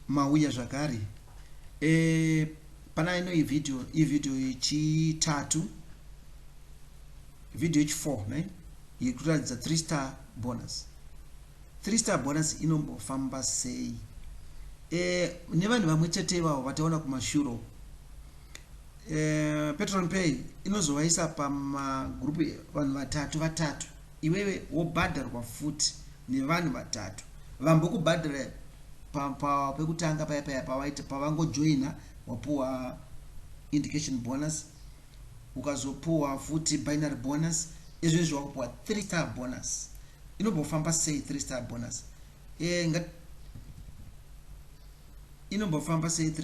mauya zvakare e, pana ino iyi video iyi video yechitatu video yechi4 ne iri kuratidza three star bonus three star bonus inombofamba sei e, nevanhu vamwe chete ivavo vataona kumashuro e, eh, petron pay inozovaisa pamagrupu vanhu vatatu vatatu Iwewe wobhadharwa futi nevanhu vatatu vambokubhadhara pa pa pekutanga paya paya pawaita pavangojoina wapuwa indication bonus ukazopuwa futi binary bonus ezvezvi wakupuwa 3 star bonus inombofamba sei 3 star bonus e, nga, inombofamba sei 3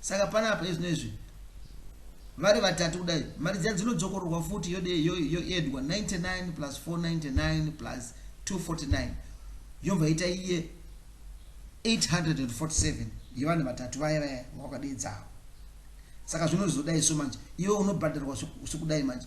Saka panapa izvino izvi vari vatatu kudai mari dziya dzinodzokororwa futi yoedwa 99 plus 499 plus 249 yobva ita iye 847 yevanhu vatatu vaya vaya vakadedzavo saka zvinozodai so manje iwe unobhadharwa sekudai manje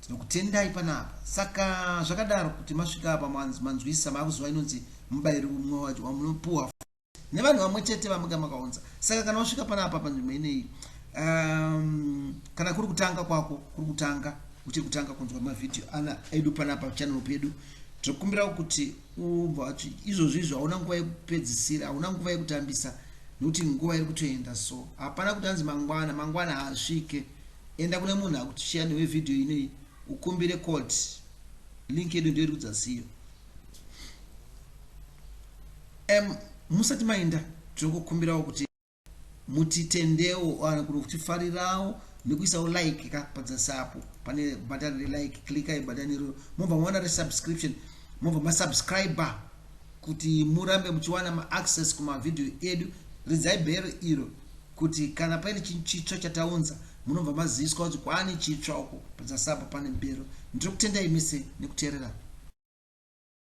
Tinokutendai pana apa. Saka zvakadaro kuti masvika apa manzi manzwisa makuziwa inonzi mubairo umwe wacho wamunopuwa nevanhu vamwe chete vamunga makaunza. Saka kana wasvika pana apa panzvimbo ineyi um, kana kuri kutanga kwako kuri kutanga uchiri kutanga kunzwa mavhidhiyo ana edu pana apa channel pedu tinokumbirawo kuti ubva wacho izvozvi izvo hauna nguva yekupedzisira hauna nguva yekutambisa nokuti nguva iri kutoenda so hapana kuti anzi mangwana mangwana haasvike Enda kune munhu akutushiya newe video inei ukumbire code. Link yedu ndiyo irikudza siyo. Em musati mainda tinokukumbirawo kuti mutitendewo kana kuti kutifarirawo nekuisawo like ka padzasi apo pane bhatani relike klikai bhatani iroro mobva maona resubscription mobva masubscriber kuti murambe muchiwana maaccess kumavhidhiyo edu ridzai bhero iro kuti kana paine chinhu chitsva chataunza munobva maziviswa kuti kwaane chitsva uko padzasapa pane mbero ndiri kutendai mise nekuteerera